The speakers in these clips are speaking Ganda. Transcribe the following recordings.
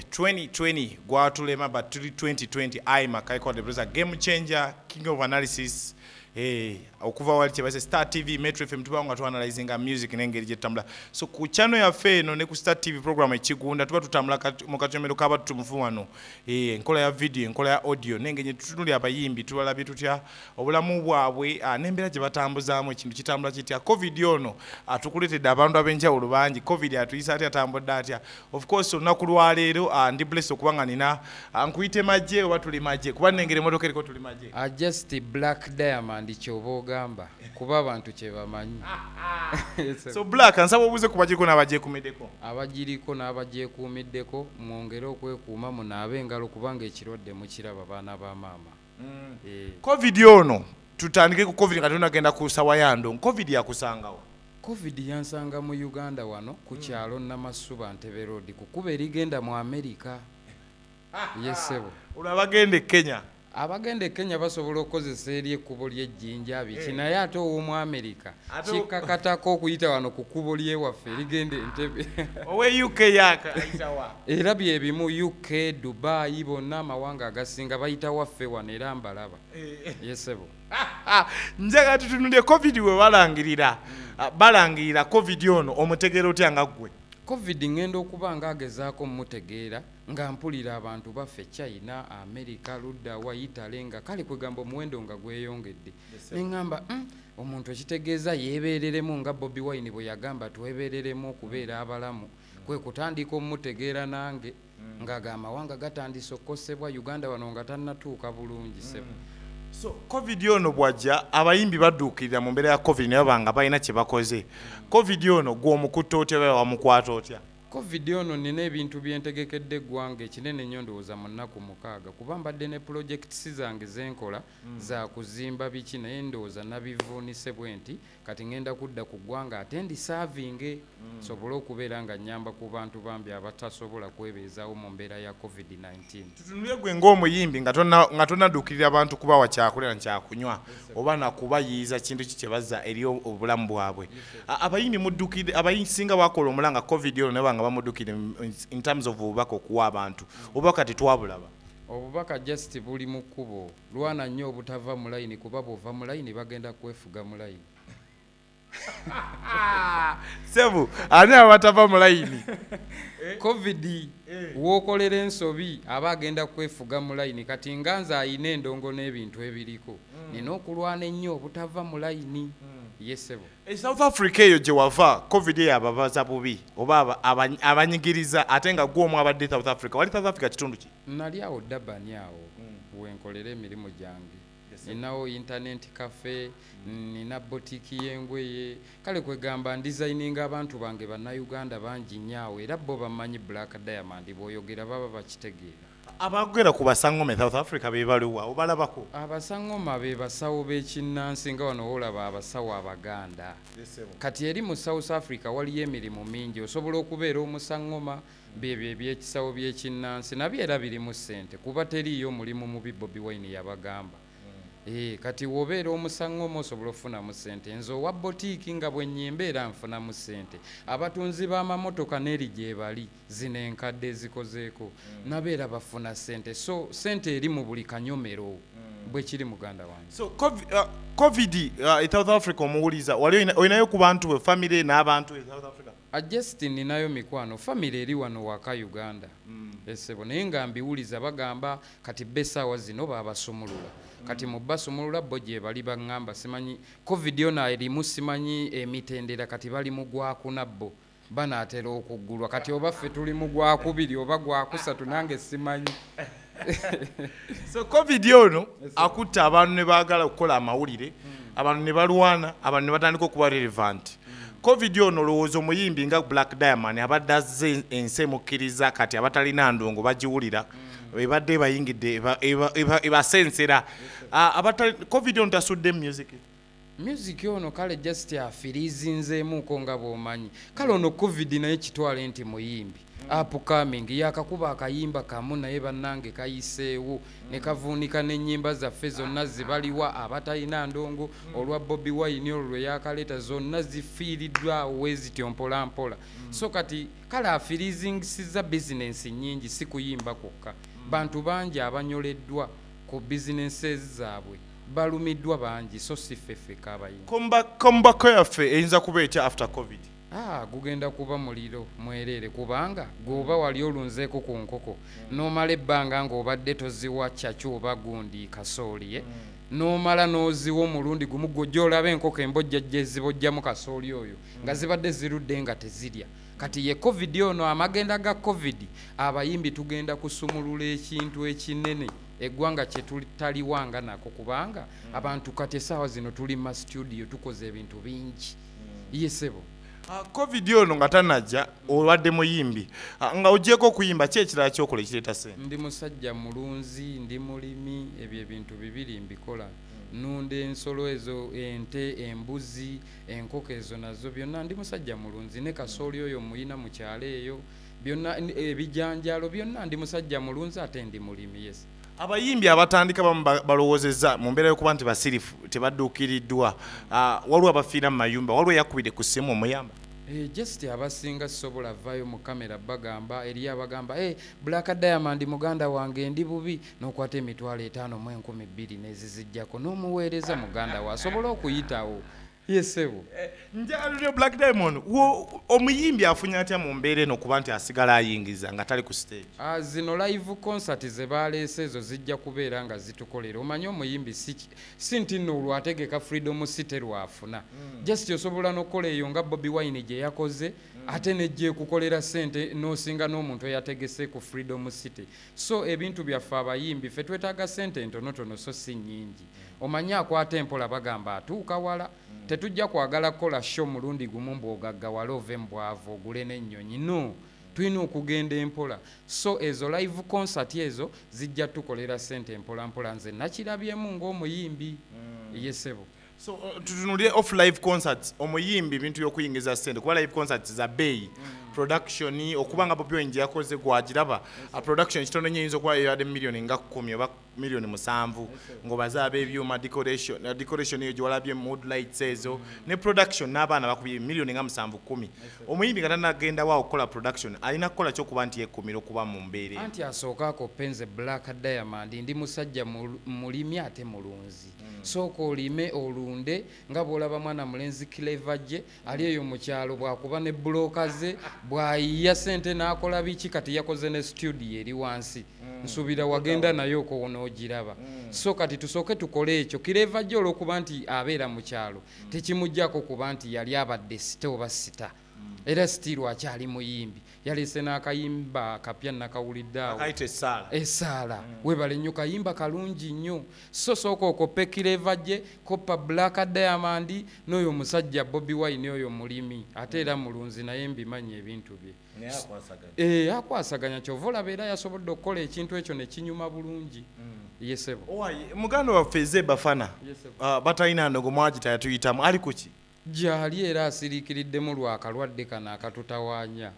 2020 gwatulema but tuli 2020 i makai kwa the brother game changer king of analysis eh okuva wali chebase star tv metro fm tuba nga tuanalyzing a music nengeri je tambula so ku channel ya fe no ne ku star tv program ekigunda tuba tutambula mu kachomero kaba tumufu wano eh nkola ya video nkola ya audio nengenye tutunuli abayimbi tubala bitu tya obulamu bwabwe ah, nembera je batambuza mu kintu kitambula kitya covid yono atukulete dabandu abenja ulubanji covid atuyisa atya tambula atya of course olunaku lwaleero uh, ndi bless okuba nga nina uh, nkuyite magye oba tuli magye kuba nengera emotoka eriko tuli magye uh, just black diamond kyoba ogamba kuba abantu kyebamanyi so black nsaba obuuze ku bagiriko n'abagyekumiddeko abagiriko n'abagyekuumiddeko mwongere okwekuuma munaabe engalo kubanga ekirwadde mukiraba baana ba maama mm. eh. covid ono tutandike ku covid nga tunagenda ku sawa yando covid yakusangawo covid yansanga mu uganda wano ku mm. kyalo namasuba ntebe road kukuba erigenda mu amerika yesebo olwo abagenda e kenya abagenda e kenya basobola okukozesa eri ekkubo lyejjinja biki eh. naye ate ow'omu amerika kikkakatako okuyita wano ku kkubo lyewaffe erigenda entebe owe uk yaka era byebimu uk dubai bonna amawanga agasinga bayita waffe wano era mbalaba eh. yesebo njaga tutunulye covid webalangirira ah, balangirira covid ono omutegeera otya nga ggwe covid ngenda okuba nga agezaako mumutegeera nga mpulira abantu baffe china america ludda wa italy nga kale kwegamba omuwendo nga gweyongedde neŋamba mm, omuntu ekitegeeza yeebeereremu nga bobi wine bwe yagamba twebeereremu okubeera abalamu kwe kutandika omutegeera nange mm. nga ga amawanga gatandise okukosebwa uganda wano nga tannatuuka bulungi mm. sebo so covid ono bwajja abayimbi baduukirira mu mbeera ya covid naye banga balina kye bakoze covid ono gw'omukutta otya oba wamukwata otya covid ono nina ebintu byentegekedde eggwanga ekinene nnyo ndowooza mu nnaku mukaaga kuba mbadde ne pulojekitisi zange zenkola mm. za kuzimba biki naye ndowooza nabivuunise bwe nti kati ngenda kudda ku ggwanga ate ndi saavinge mm. sobole okubeera nga nyamba ku bantu bambi abatasobola kwebeezawo mu mbeera ya covid-19 tutunule gwe ngaomuyimbi nga tonaduukirira abantu kubawa kyakulera nkyakunywa oba nakubayiiza kintu ki kyebazza eri obulamu bwabwe abayimbi mudukire abayisinga bakola omula nga covid ono naba nga bamudukire in terms of obubaka okuwa abantu obubaka tetwabulaba obubaka just buli mu kkubo lwana nnyo obutava mu layini kuba bwova mu layini bagenda kwefuga mu layini sebu ani abatava mu layini covid eh. wokolera ensobi aba agenda kwefuga mu layini kati nga nze ayina endongo n'ebintu ebiriko hmm. nina okulwana ennyo obutava mu layini hmm. ye sebo e south africa eyo gye wava covid eyo ababaza bubi oba abanyigiriza ate nga gwomu abadde south africa wali south africa kitundu ki nali awo dabani awo mm. wenkolera emirimu gyange ninawo intanenti kafe mm. nina botiki yengweye kale kwegamba ndizayininga abantu bange bannayuganda bangi nnyo awo era bo bamanyi black diamond bwoyogera baba bakitegeera abagera ku basangoma south africa bebaliwa obalabako abasangoma be basawo bekinnansi nga wano wolaba abasawo abaganda kati eri mu south africa waliyo emirimu mingi osobola okubeera omusangoma byebyo ebyekisawo byekinnansi nabyo era birimu ssente kuba teriiyo mulimu mubi bobi wine yabagamba mm. eh, kati wobeera omusango omu osobola okufunamu ssente nze owa botiiki nga bwenyimba era nfunamu ssente abatunzi b'amamotoka n'eri gyebali zino enkadde ezikozeeko mm. nabo era bafuna ssente so ssente eri mu buli kanyomero mm. bwekiri muganda wange so covid uh, uh, e south africa omuwuliza wali olinayo ku bantu be famiry n'abantu e south africa I just ninayo mikwano family eri wano waka Uganda mm. esebo naye nga mbiwuliza bagamba kati besaawa zino babasumulula mm. kati mu basumulula bo gye bali bangamba simanyi covid yona erimu simanyi emitendera kati bali mu gwakuna bo banaatera okuggulwa kati oba ffe tuli mu gwakubiri oba gwakusatu nange simanyi so covid ono akutte abantu ne baagala okukola amawulire abantu ne balwana abantu ne batandika okuba relevant covid ono olowooza omuyimbi nga black diamond abadde azze ensi emukkiriza kati abatalina ndongo bagiwulira ebadde ebayingidde ebasensera covid ono tasudde music music ono kale just afirizinzeemuuko nga bwomanyi kale ono covid naye kitwale nti muyimbi upcoming yakakuba akayimba kamu naye bannange kayiseewo ne kavuunika n'ennyimba zaffe zonna zibaliwa abatalina ndongo olwa bobi wayini olwo lwe yakaleeta zonna zifiiriddwawo wezityo mpolampola so kati kale afirizinsiza bizinensi nnyingi si kuyimba kwokka bantu bangi abanyoleddwa ku bizinensi zaabwe balumiddwa bangi so si ffe ffeka abayimbi kombako yaffe eyinza kuba etya after covid ah, gugenda kuba muliro mwereere kubanga gweoba wali olunzeeko ku nkoko n'omala ebbanga ng'obadde toziwa caki oba gundi kasooli ye eh? mm. n'omala n'oziwa omulundi gumu gwojja olaba enkoko embojja jezibojjamu kasooli oyo nga mm. zibadde zirudde nga tezirya kati ye covid ono amagenda ga covid abayimbi tugenda kusumulula ekintu ekinene eggwanga kyetutaliwa nga nako kubanga mm. abantu kati esaawa zino tuli mu mastudio tukoze ebintu bingi mm. yesebo ah, covid ono nga tanajja olwadde muyimbi ah, nga ogyeko okuyimba ki ekirala kyokola ekireeta sente ndi musajja mulunzi ndi mulimi ebyo ebintu bibiri mbikola mm. nunda ensolo ezo ente embuzi enkoko ezo nazo byonna ndi musajja mulunzi ne kasooli oyo muyina mu kyalo eyo byonna ebijanjaalo eh, byonna ndi musajja mulunzi ate ndi mulimi yes abayimbi abatandika bamu balowoozezza mu mbeera yokuba nti basirifu tebadduukiriddwa ah, waliwo abafiira mu mayumba waliwo eyakubidde ku ssimu omuyamba eh, just abasinga sobola vayo mu kamera bagamba eri abagamba e eh, black diamond muganda wange ndi bubi nokwata emitwalo etaano mu enkumi bbiri nezizijjako n'omuweereza muganda we asobole okuyitawo yesebo eh, njalulyo black diamond omuyimbi afunye atya mu mbeera eno kuba nti asigala ayingiza nga tali ku stage ah, zino live concert ze baleese ezo zijja kubeera nga zitukolera omanyi omuyimbi si nti nno olwategeka freedom city lwafuna hmm. just osobola n'okukola eyo nga bobi wine gye yakoze hmm. ate nejja ekukolera sente n'osinga n'omuntu eyategese ku freedom city so ebintu byaffe abayimbi fe twetaaga sente entonotono so si nyingi omanyi akwata empola bagamba atuuka wala tetujja kwagala kukola sho mulundi gumu mbwogagga wala ove mubwavu ogule n'ennyonyi no tulina okugenda empola so ezo live concert ezo zijja tukolera sente empolampola nze nakirabyemu ng'omuyimbi mm. yesebo so uh, tutunulire off live concerts omuyimbi bintu yokuyingiza sente kuba live concerts za bay mm. production okuba nga bobi wenje yakoze gwagiraba a production kitono nyo yinza okuba yeyade million nga kumi oba million musanvu ngobaze abebyuma decoration uh, decoration eyo gyewalabye mood lights ezo mm. ne production n'abaana bakubye million nga musanvu kumi omuyimbi nga tanagenda wa okukola production alina kukola kyokuba nti yekumira okuba mu mbeere anti asooka ako penze black diamond ndi musajja mulimi ate mulunzi hmm. sooka olime olunde nga bwolaba mwana mulenzi kileva gye ali eyo mu kyalo bwakuba ne bulooka ze bwayiya sente n'akola biki kati yakoze ne studio eri wansi hmm. nsuubira wagenda naye okowona ogiraba hmm. so kati tusooke tukole ekyo kileva gye olwokuba nti abeera mu kyalo tekimuggyako kuba nti yali abadde sita oba sita era sitiiru akyali muyimbi yaleese n'akayimba akapya nakawulidde awo esaala mm. webale nnyo kayimba kalungi nnyo so sooka okoppe kireva gye koppa black diamond n'oyo omusajja bobi wine oyo mulimi ate era mm. mulunzi naye mbimanyi ebintu bye eh, akwasaganya kyova olaba era yasobodde okukola ekintu ekyo nekinyuma bulungi mm. yesebo muganda waffe ezebafana ah, batalina ndogo mwagita yatuyitamu ali kuki gyali era asiriikiriddemu lwa kalwadde kano akatutawaanya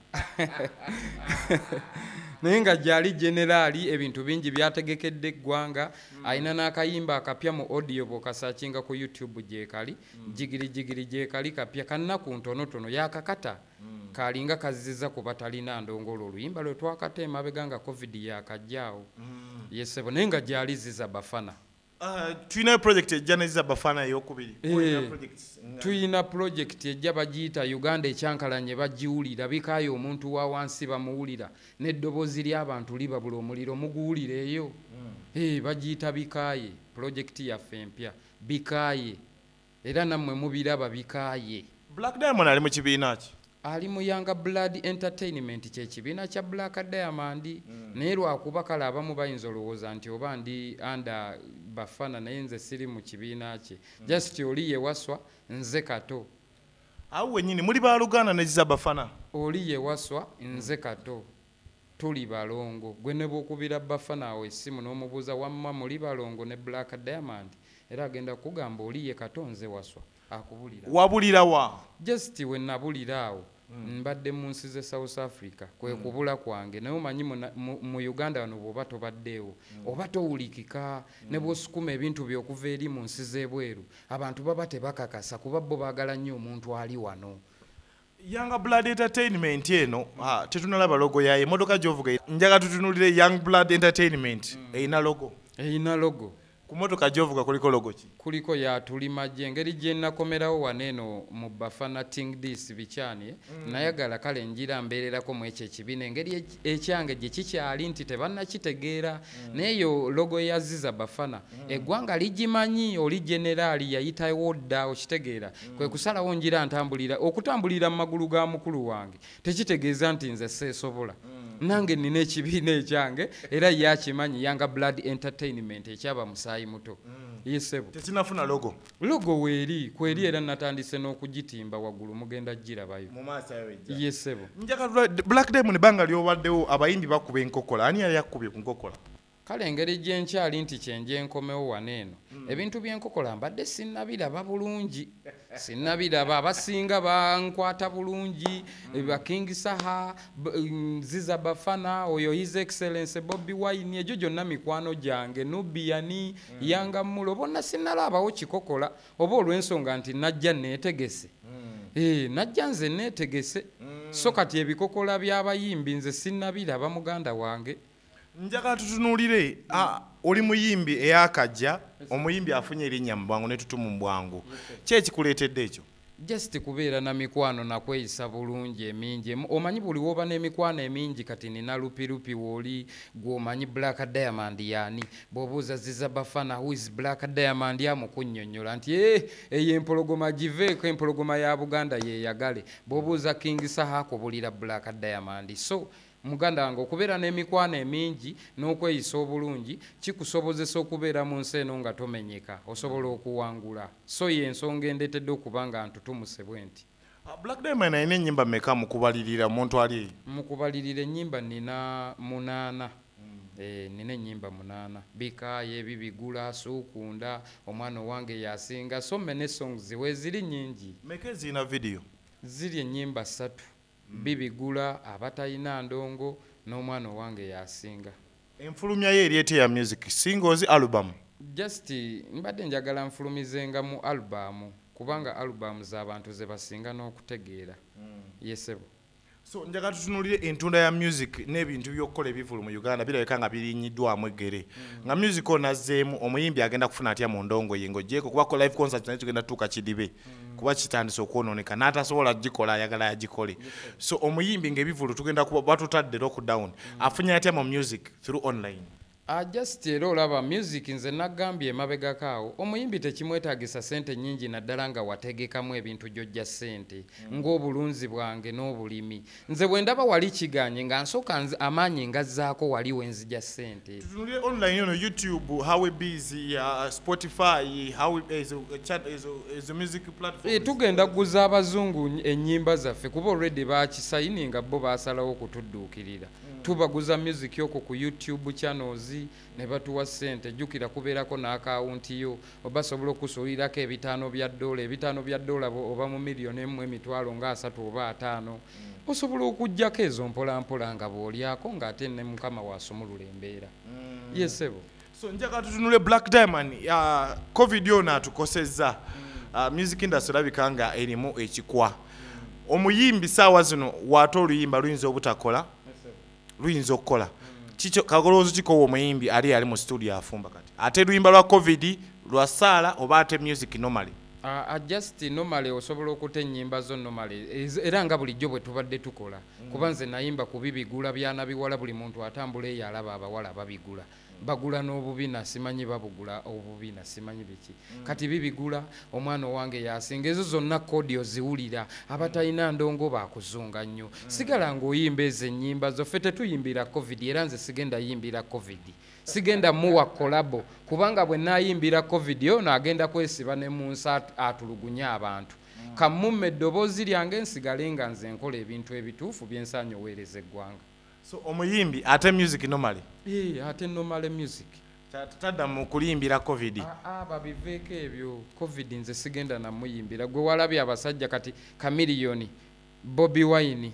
naye nga gyali generaali ebintu bingi byategekedde eggwanga mm. alina n'akayimba akapya mu audio bwokasakinga ku youtube gyekali mm. jigiri jigiri gyekali kapya kannaku ntonotono yakakata mm. kalinga kaziza ku batalina ndongoola oluyimba lwe twakata emabega nga covid yakajjaawo yesebo naye nga gyali ziza bafana Ah, tulinayo project ejja neza bafana eyokubiri eh, tulina project ejja bagiyita uganda ekyankalanye bagiwulira bikaayo omuntu wa wansi bamuwulira n'eddoboozi ly'abantu libabula omuliro muguwulira eyo hmm. eh, bagiyita bikaaye project yaffe empya bikaaye era nammwe mubiraba bikaaye black diamond ali mu kibiina ki ali mu yanga blood entertainment kyekibiina kya black diamond mm. naye lwakuba kale abamu bayinza olowooza nti oba ndi anda bafana naye nze siri mu kibiina kye mm. just oli yewaswa nze kato awo wenyini muli baluganda neziza bafana oli yewaswa nze kato tuli balongo gwe nebwokubira bafana awo esimu nomubuuza wamma muli balongo ne black diamond era agenda kugamba oli ye kato nze waswa akubulira wabulira wa just we nabulira awo mm. mbadde mu nsi ze south africa kwe mm. kubula kwange naye omanyi mu uganda wano bwoba tobaddeewo mm. oba towulikika mm. ne bwosukuma ebintu byokuva eri mu nsi z'ebweru abantu baba tebakakasa kuba bo baagala nnyo omuntu ali wano Young Blood Entertainment eno ah, tetunalaba logo yaye motoka gyovuga njaga tutunulire Young Blood Entertainment mm. eyina logo eyina logo ku motoka gyovuga kuliko logo ki kuliko yatulimajje engeri gyenakomerawo wano eno mu bafana ting dis bikyani mm. nayagala kale njira mbeererako mu ekyo ekibiina engeri ekyange gye kikyali nti tebannakitegeera mm. nayeyo logo yaziza bafana mm. eggwanga ligimanyi oli generaali yayitawo dda okitegeera mm. kwe kusalawo njira ntambulira okutambulira mu magulu ga mukulu wange tekitegeeza nti nze seesobola mm. nange nina ekibiina ekyange era ye akimanyi yanga blood entertainment ekyaba musaayi muto mm. yesebo tekinafuna logo logo weeri kweri era natandise n'okugitimba waggulu mugenda girabayo yesebo black diamond banga lyobaddewo abayimbi bakuba enkokola ani yali akubye ku nkokola kale engeri gyenkyali nti kyenje enkomewo wano eno hmm. ebintu byenkokola mbadde sinabiraba bulungi sinabiraba abasinga bankwata bulungi hmm. bakingisaha mm, ziza bafana oyo his excellence bobi wine egyo gyonna mikwano gyange nubiyani hmm. yanga mulo bonna sinalabawo kikokola oba olwensonga nti najja netegese eh, najja nze netegese so kati ebikokola byabayimbi nze sinabiraba muganda wange njagala tutunuulire oli muyimbi eyakajja omuyimbi afunye erinnya mu bwangu netutumu mu bwangu ki ekikuleetedde ekyo just kubeera na mikwano nakweyisa bulungi emingi omanyi buli woba n'emikwano emingi kati nina lupilupi wooli gwomanyi black diamond yaani bwobuuza ziza bafana who is black diamond amukunyonyola nti e eh, eyo empologoma giveeko empologoma ya buganda yeyagale bwobuuza king saha kubulira black diamond so Muganda wange okubeera n'emikwano emingi n'okweyisa obulungi kikusobozesa okubeera mu nsi eno nga tomenyeka osobola okuwangula so ye ensonga endeetedde okuba nga ntutumuse bwe nti ah, black diamond alina ennyimba meka mukubalirira omuntu ali mukubalirira ennyimba nina munaana Eh, nina enyimba munana bikaye bibigula sukunda omwana owange yasinga so many songs weziri nyingi meke zina video ziri enyimba satu bibigula abatayina ndongo n'omwana owange yasinga enfulumya ye eri etya ya music singles album just mbadde njagala nfulumizenga mu album kubanga album z'abantu ze basinga n'okutegeera mm. yesebo so njaga tutunulire entunda ya music n'ebintu by'okukola ebivulu mu uganda birabika nga birinyiddwamu eggere mm. nga music onazzeemu omuyimbi agenda kufuna atya mu ndongo ye ng'ogyeko kuba ko live concert naye tugenda tutuuka kidibe mm. kuba kitandise okwononeka n'atasobola gikola ayagala yagikole so omuyimbi ngaebivulu tugenda kuba batutadde lockdown mm. afunye atya mu music through online ah, just era olaba music nze nagambye emabegako awo omuyimbi tekimwetagisa sente nyingi naddala nga wategekamu ebintu gyojja sente mm. ng'obulunzi bwange n'obulimi nze bwendaba wali kiganye nga nsoka amaanyi ngazzaako wali wenzija sente tutunulire online yono youtube howe bs uh, spotify ezo music platform eh, tugenda kuguza abazungu enyimba zaffe kuba olredi bakisayini nga bo basalawo okutudduukirira mm. tubaguza music yoko ku youtube channels ne batuwa ssente jjukira kubeerako n'akaawunti yo oba sobola okusuulirako ebitaano bya ddoola ebitaano bya ddoola oba mu miliyoni emu emitwalo nga asatu oba ataano mm. osobola okugyako ezo mpolampola nga bw'olyako ng'ate ne mukama wasumulula embeera mm. yesebo so njagala tutunule black diamond uh, covid ono atukosezza mm. uh, music industry labika nga erimu ekikwa omuyimbi saawa zino waate oluyimba luyinza obutakola luyinza okukola kikyo kagoloozi kikowa omuyimbi ali ali mu studio afumba kati ate luyimba lwa covid lwa saala oba ate music normally Uh, uh, just normally osobola okuta ennyimba zo normally era nga bulijjo bwe tubadde tukola mm. kuba nze nayimba ku bibigula byanabiwala buli muntu atambula eyo alaba abawala babigula bagula n'obubina simanyi babugula obubina simanyi biki mm. kati bibigula omwana owange yasinga ezo zonna kodi oziwulira abatalina ndongo bakuzunga nnyo mm. sigala ng'oyimba ezo ennyimba zoffe tetuyimbira covid era nze sigenda yimbira covid sigenda muwa kolabo kubanga bwe nayimbira covid ono agenda kwesiba ne mu nsi atulugunye abantu mm. kammumma eddoboozi lyange nsigale nga nze nkola ebintu ebituufu byensaanyi oweereza eggwanga so omuyimbi ate music normally eh ate normally music tadda mu kulimbira covid ah, ah, babiveeko ebyo covid nze sigenda namuyimbira gwe walabye abasajja kati kamiliyoni bobi wine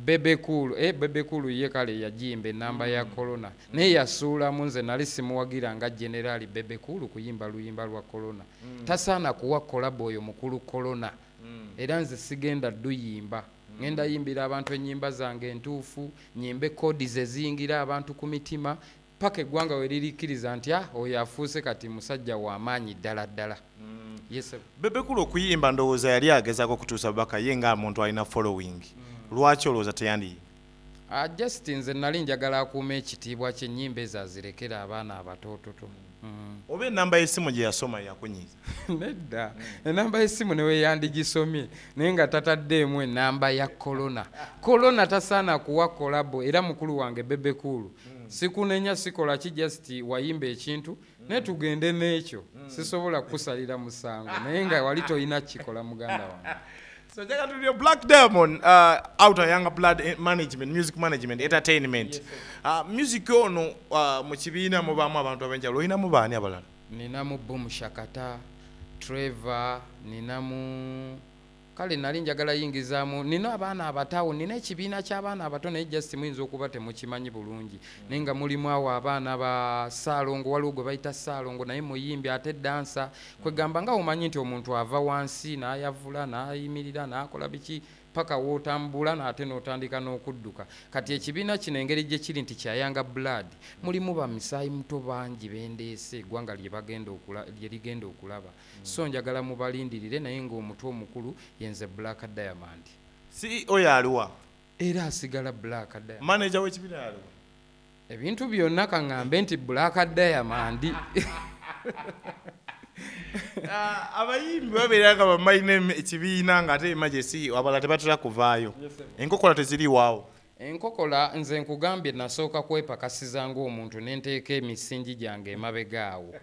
bebekulu eh, bebekulu ye kale yajimba enamba mm. ya corona mm. naye yasuulamu nze nali simuwagira nga generali bebekulu kuyimba luyimba lwa corona mm. tasaana kuwa kolabo oyo mukulu corona mm. era nze sigenda duyimba mm. ŋenda yimbira abantu ennyimba zange entuufu nyimbe kodi zeziyingira abantu ku mitima paka eggwanga we lirikkiriza nti ah, oyo afuuse kati musajja w'amaanyi ddala ddala mm. bebekulu okuyimba ndowooza yali agezaako okutuusa bubaka ye nga muntu alina following mm. lwaki olowooza teyandi Ah, just nze nali njagala akuuma ekitiibwa kyenyimba ezo azirekera abaana abatoototo mm. oba enamba yesimu gyeyasoma yakunyiza nedda enamba yesimu neweyandigisomye naye nga tataddeemu enamba ya kolona kolona tasaana kuwa kolabo era mukulu wange bebekuulu mm. sikunenya sikola ki just wayimba ekintu mm. naye tugende n'ekyo sisobola kukusalira musango naye nga wali tolina kikola muganda wange So njagala tulire Black Diamond uh, out of younger blood eh, management, music management, entertainment. Yes, uh, music ono uh, mu kibiina mubaamu abantu ab'enjawulo olinamu baani abalala? Ninamu Boom Shakata, Trevor, ninamu kale nali njagala yingizaamu nina abaana abatawo nina ekibiina ky'abaana abato naye just muyinza okuba temukimanyi bulungi naye nga mulimu awo abaana ba saalongo waliwo gwe bayita saalongo naye muyimbi ate dansa kwegamba nga omanyi nti omuntu ava wansi nayavula nayimirira nakola biki paka wotambula nate notandika nokudduka kati ekibiina kino engeri gyekiri nti kyayanga blood mulimu bamisaayi muto bangi bendeese egwanga lyerigenda okulaba mm. so njagala mubalindirire naye ngaomutu omukulu yenze black diamond ceo yaliwa era asigala black diamond manager wekibira yaliwa ebintu byonna kaŋŋambe nti bulaaka dayamandi ah, abayimbi babeera nga bamalina ekibiina nga ate emajesi abala tebatera kuvaayo enkokola teziriwaawo enkokola nze nkugambye nasooka kwepakasiza ngaomuntu nenteeka emisingi gyange emabega awo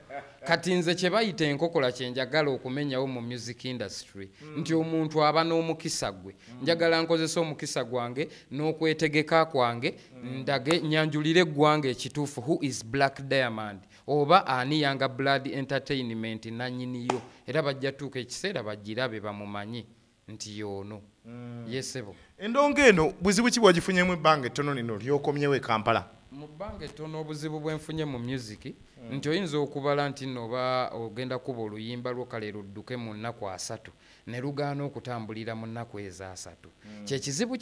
kati nze kye bayita enkokola kye njagala okumenyawo mu music industry hmm. nti omuntu aba n'omukisa gwe hmm. njagala nkozesa omukisa gwange n'okwetegeka kwange Mm. ndage nyanjulire eggwanga ekituufu who is black diamond oba ani yanga blood entertainment nanyiniyo era bajja tuuka ekiseera bagirabe bamumanyi nti yoono mm. yesebo endonga eno buzibu ki bwagifunyemu ebbanga ettono lino lyokomyewo e kampala mu bbanga ettono obuzibu bwenfunye mu music mm. nti oyinza okubala nti nooba ogenda kuba oluyimba lwo kale ludduke mu nnaku asatu ne lugaana okutambulira mu nnaku ezo asatu mm. kyekizibu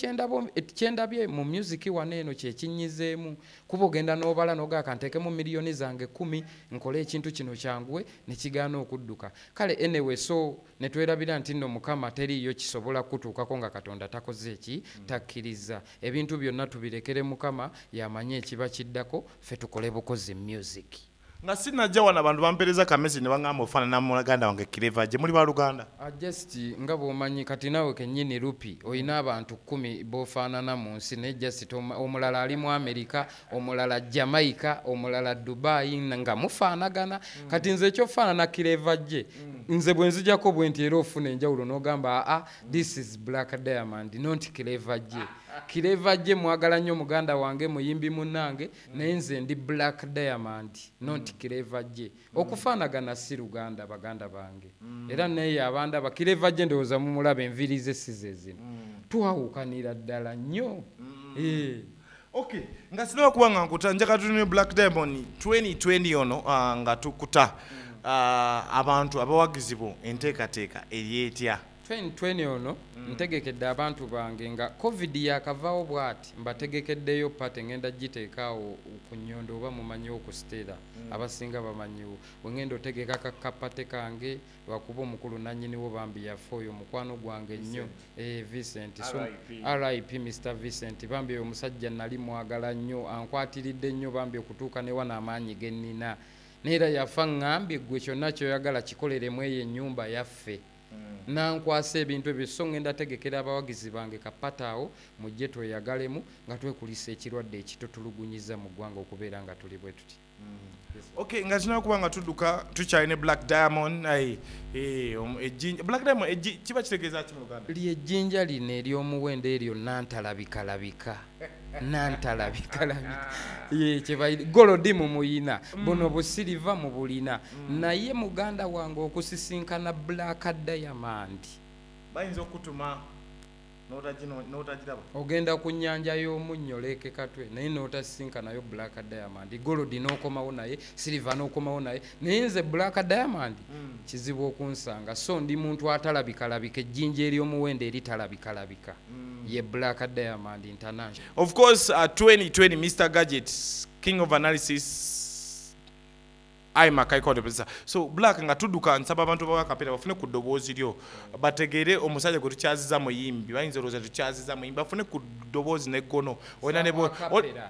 kyendabye mu musiki wano eno kyekinyizeemu kuba ogenda n'obala nogaa kanteekemu miliyoni zange kumi nkole ekintu kino kyanguwe ne kigaana okudduka kale enewe so ne twerabira nti nno mukama teriiyo kisobola kukutuukako nga katonda takoze eki mm. takkirizza ebintu byonna tubirekere mukama yamanyi ekiba kiddako ffe tukole bukozi musiki nga sinajja wano abantu bampereza kamesi ne baŋamba ofaanana mulaganda wange kireva gye muli baluganda ah, just nga bwomanyi kati naawe kenyini lupi olina abantu kkumi bofaanana mu nsi naye just omulala ali mu amerika omulala jamaica omulala dubai nga mufaanagana mm. kati nze ekyofaanana kireva gye mm. nze bwe nzijako bwe nti era ofuna enjawulo n'ogamba aa ah, this is black diamond nonti kireva gye kireva gye mwagala nnyo muganda wange muyimbi munnange naye nze ndi black diamond not mm. clever je mm. okufanagana si luganda baganda bange mm. era naye abanda ba clever je ndowoza mumulaba enviri ze size zino mm. twawukanira ddala nnyo mm. eh. okay nga sinawe okuba nga nkuta njaka tuni black diamond 2020 ono uh, nga tukuta mm. uh, abantu abawagizibwa enteekateeka eryetya 2020 ono mm. ntegekedde abantu bange nga covid yakavawo bwati mbategekeddeyo pate ngenda giteekaawo ku nyondo oba mumanyiwo ku sitera mm. abasinga bamanyiwo wengenda otegeka kakapate kange lwakuba omukulu nanyiniwo bambi yafe oyo mukwano gwange nnyo eh, vincent so rip mr vincent bambi oyo omusajja nali mwagala nnyo ankwatiridde nnyo bambi okutuuka newa n'amaanyi gennina neera yafa ngambye gwe kyonna kyoyagala kikolere mu eyo ennyumba yaffe mm. nankwasa ebintu ebyo so ngenda tegekera abawagizi bange kapata awo mujje tweyagalemu nga twekulisa ekirwadde ekitutulugunyiza mu ggwanga okubeera nga tuli bwe tuti mm. ok nga tulina kuba nga tudduka tukyali ne black diamond eh, ejjinja black diamond kiba kitegeeza ki mu uganda lyejjinja lino ery'omuwendo eryo nantalabikalabika nantalabikalabigolodi mumuyina mm. buno busiriva mubulina mm. naye muganda wange okusisinkana black diamond bayinza okutuma ogenda ku nyanja y'omunnyo leeke katwe naye n'otasisinkanayo black diamond golodi n'okomawo naye siriva n'okomawo naye naye nze black diamond mm. kizibu okunsanga so ndi muntu atalabikalabika ejjinja eryomuwendo eri talabikalabika mm. ye black diamond international of course uh, 2020 mr gadget king of analysis ayi makaikoteesa so black nga tudduka nsaba abantu bawakapeera bafune ku ddoboozi lyo bategeere omusajja gwe tukyaziza muyimbi bayinza olowooza tukyaziza muyimbi bafune ku ddoboozi neggono olina ne bo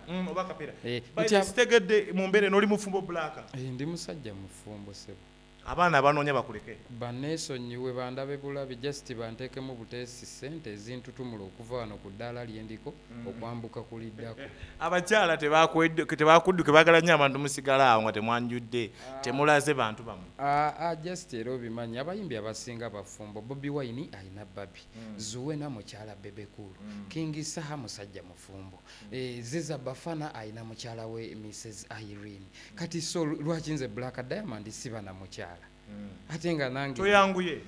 mm, oba kapera eh, sitegedde mu mbeera eno oli mufumbo black eh, ndi musajja mufumbo sebo abaana abanoonya bakuleke baneesonyiwe bandabe bulabi just banteekemu buteesi ssente ezintutumula okuva wano ku ddaala lyendiko mm. okwambuka kuliddako abakyala tebakudduke bagala nnyo abantu musigala awo nga temwanjudde ah. temulaze bantu bamu ah, ah, just era obimanyi abayimbi abasinga bafumbo bobi wine alina babi mm. zuwena mukyala bebekulu mm. king saha musajja mufumbo mm. e, ziza bafana ayina mukyala we mrs irene mm. kati so lwaki nze black diamond siba na mukyala mm. ate nga nange toyanguye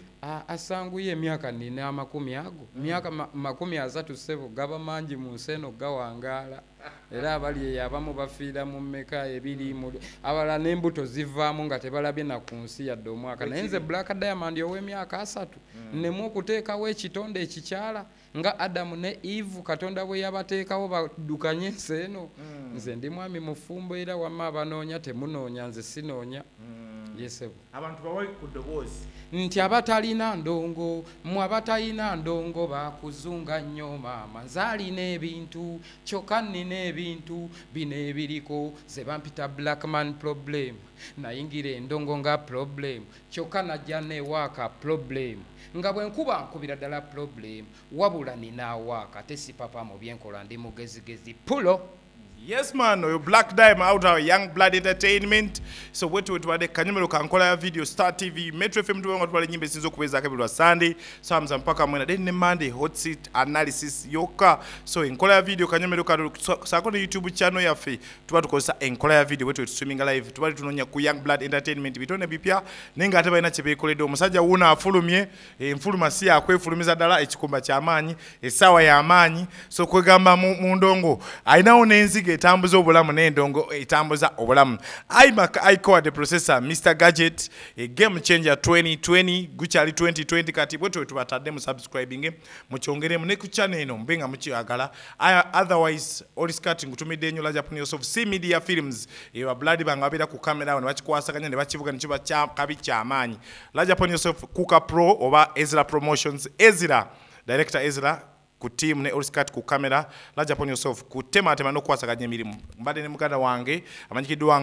asanguye emyaka nina amakumi ago mm. myaka ma, makumi asatu sebo gaba mangi mu nsi eno gawangaala era abali eyo abamu bafiira mu meka ebiri mu abala n'embuto zivaamu nga tebalabye na ku nsi yadde omwaka naye nze black diamond ow'emyaka asatu hmm. nnemu okuteekawo ekitonde ekikyala nga adamu ne eve katonda bwe yabateekawo badukanye ensi eno hmm. nze ndi mwami mufumbo era wamma abanoonya temunoonya nze sinoonya hmm. yesebo abantu bawe ku ddoboozi nti abatalina ndongo mwe abatalina ndongo bakuzunga nnyo maama nzaalina ebintu kyokka nnina ebintu bino ebiriko ze bampita blackman problem nayingira endongo nga problem kyokka najja newaaka problem nga bwe nkuba nkubira ddala problem wabula nina awaaka tesipapa mu byenkola ndi mugezigezi pulo Yes man, oyo Black Dime out our Young Blood Entertainment. So wetu wetu wade kanyumelo kankola ya video Star TV, Metro FM tuwe watu wale nyimbe sinzo kuweza kabilu wa Sunday, Samza mpaka mwena, then Monday, hot seat, analysis, yoka. So enkola ya video kanyumelo kadu, so, sakone YouTube channel ya fe, tuwa tukosa enkola ya video wetu wetu swimming live, tuwa tunonya ku Young Blood Entertainment, bitone bipia, nenga ataba ina chepe kule do, masaja una afulu mie, enfuluma si yakwefulumiza ddala ekikumba kyamaanyi essaawa yamaanyi so kwegamba mu ndongo alinawo n'enziga etambuza obulamu n'endongo etambuza obulamu imac icoa de processor mr gadget e game changer 2020 gukyali 2020 kati bwe tuwe tubatadde mu subscribing mukyongeremu ne ku channel eno mube nga mukyagala otherwise oliscati ngutumidde enyo lajapunioso of c media films ewa blood banga babeera ku kamera awo ne bakikwasaganya ne bakivuga ne kiba kabi kyamaanyi Large upon yourself Kuka Pro oba Ezra Promotions Ezra Director Ezra ku team ne Oriscat ku camera Large upon yourself ku tema tema no kwasaganya emirimu mbade ne muganda wange amanyikiddwa